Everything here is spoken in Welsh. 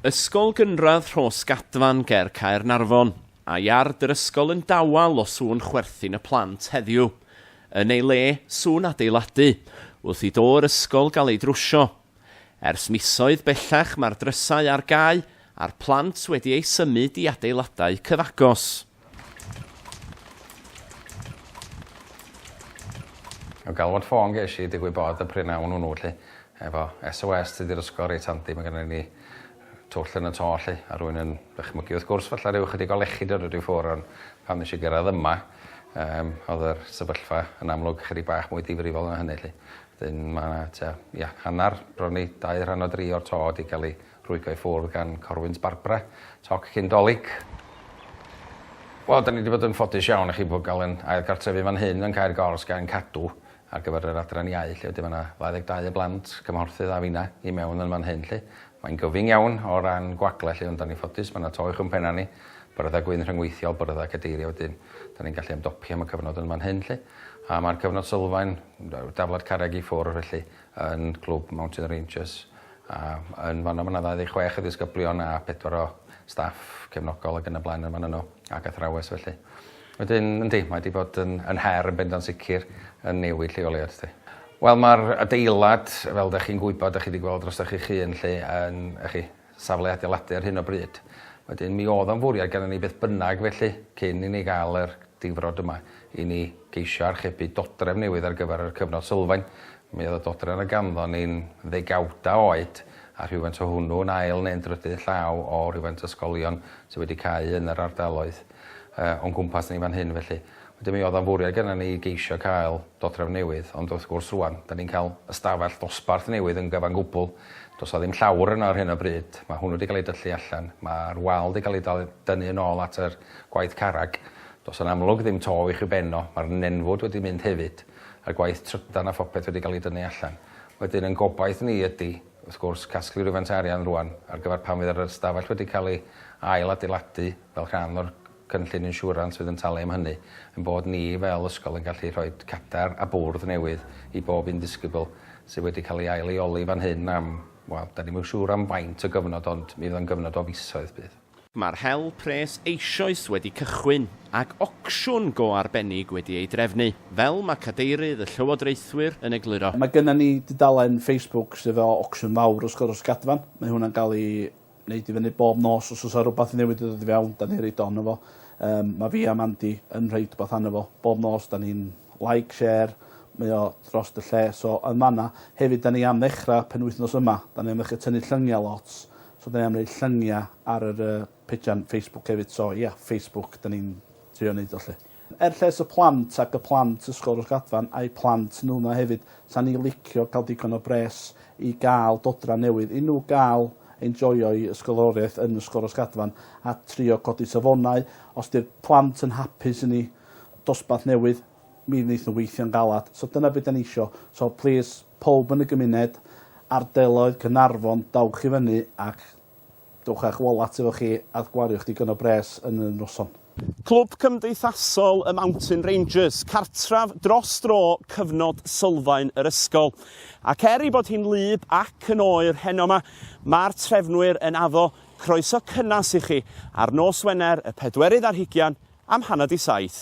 Ysgol Gynradd Rhosgadfan ger Caernarfon, a iard yr ysgol yn dawel o sŵn chwerthin y plant heddiw. Yn ei le, sŵn adeiladu, wrth i do'r ysgol gael ei drwsio. Ers misoedd bellach mae'r drysau ar gau a'r plant wedi eu symud i adeiladau cyfagos. O galwad ffôn gesh i digwydd bod y prin awn hwnnw 'lly efo SOS Tŷ Di'r Ysgol reit handi, ma' gynnon ni twll yn y to 'lly a rwy'n yn dychmygu wrth gwrs falla ryw ychydig o lechid yn rhoid i ffwr' ond pan nesh i gyrradd yma yym o'dd yr sefyllfa yn amlwg ychydig bach mwy difrifol na hynny 'lly. 'Dyn ma' 'na tua ia hannar bron i dau rhan o dri o'r to 'di ga'l 'i Rhwygo i ffwrdd gan Corwynt Barbara, toc cyn Dolig. Wel, da ni wedi bod yn ffodus iawn i chi bod gael yn ail gartrefu fan hyn yn Caer Gors gan Cadw ar gyfer yr Adran Iau lle wedi mae yna 22 o blant, cymhorthydd a fina i mewn yn fan hyn 'lly. Mae'n gyfyng iawn o ran gwagle 'lly ond da ni'n ffodus mae yna to uwch yn pena ni, byrddau gwyn rhyngweithiol, byrddau cadeirio wedyn da ni'n gallu ymdopi am y cyfnod yn fan hyn 'lly. A mae'r cyfnod sylfaen, daflad carreg i ffwrdd felly yn Clwb Mountain Rangers a yn fan'no ma' 'na ddau ddeg chwech o ddisgyblion a pedwar o staff cefnogol ag yn y blaen yn fan'no n'w ag athrawes felly. Wedyn yndi mae 'di bod yn yn her yn bendant sicr yn newid lleoliad 'lly. Wel ma'r adeilad fel 'dach chi'n gwybod 'dach chi 'di gweld drostoch chi'ch hun 'lly yn y'chi safle adeiladu ar hyn o bryd. Wedyn, mi oedd o'n fwriad gennym ni beth bynnag felly, cyn i ni gael yr difrod yma, i ni geisio archebu dodrefn newydd ar gyfer yr cyfnod sylfaen. Mi oedd y dodrefn a ganddon ni'n ddegawdau oed, a rhywfaint o hwnnw yn ail neu'n drydydd llaw o rhywfaint ysgolion sydd wedi cau yn yr ardaloedd o'n cwmpas ni fan hyn felly. Wedyn mi oedd o'n fwriad genna ni geisio cael dodrefn newydd, ond wrth gwrs rŵan, dan ni'n cael ystafell dosbarth newydd yn gyfan gwbl, does 'na ddim llawr yno ar hyn o bryd, mae hwnnw 'di cael ei dyllu allan, mae'r wal 'di cael ei dal- dynnu yn ôl at yr gwaith carreg, does yn amlwg ddim to i'ch i'w ben o, mae'r nenfwd wedi mynd hefyd, y gwaith trydan a phopeth wedi cael ei dynnu allan. Wedyn yn gobaith ni ydy, wrth gwrs, casglu rywfaint o arian rŵan ar gyfer pan fydd yr ystafell wedi cael ei ail adeiladu fel rhan o'r cynllun insiwrans fydd yn talu am hynny, ein bod ni fel ysgol yn gallu rhoi cadair a bwrdd newydd i bob un disgybl, sydd wedi cael ei ail-leoli fan hyn am, wel, dan ni'm yn siŵr am faint o gyfnod ond mi fydd o'n gyfnod o fisoedd bydd. Mae'r hel pres eisoes wedi cychwyn ac ocsiwn go arbennig wedi ei drefnu, fel mae cadeirydd y llywodraethwyr yn egluro. Mae gennym ni dudalen Facebook sydd efo ocsiwn fawr wrth gwrs, Gadfan, mae hwnna'n cael ei neud i fyny bob nos os o's 'a rwbath newydd 'di dod i fewn 'dan ni roid o ano fo. Yym ma' fi a Mandy yn rhoid wbath ano fo bob nos 'dan ni'n like share mae o drost y lle so yn fan 'na hefyd 'dan ni am ddechra penwythnos yma 'dan ni am ddechra tynnu llyngia lot so 'dan ni am neud llyngia ar yr yy pejana Facebook hefyd so ia Facebook 'dan ni'n trio neud o 'lly. Er lles y plant ac y plant Ysgol Rhosgadfan a'u plant nhw 'ma hefyd, 'sa ni licio cael digon o bres i gael dodran newydd i nhw gael enjoio'u ysgoloriaeth yn Ysgol Rhosgadfan a trio codi safonau. Os 'di'r plant yn hapus i ni dosbarth newydd, mi wneith nhw weithio'n galed. So dyna be' 'dan ni isio. So plîs, powb yn y gymuned, ardaloedd Caernarfon, dowch i fyny ac Dowch â'ch wallat efo chi a gwariwch digon o bres yn y noson. Clwb Cymdeithasol y Mountain Rangers, cartref dros dro cyfnod sylfaen yr ysgol. Ac er ei bod hi'n wlyb ac yn oer heno 'ma, mae'r trefnwyr yn addo croeso cynnes i chi ar nos Wener y pedwerydd ar hugian am hanner 'di saith.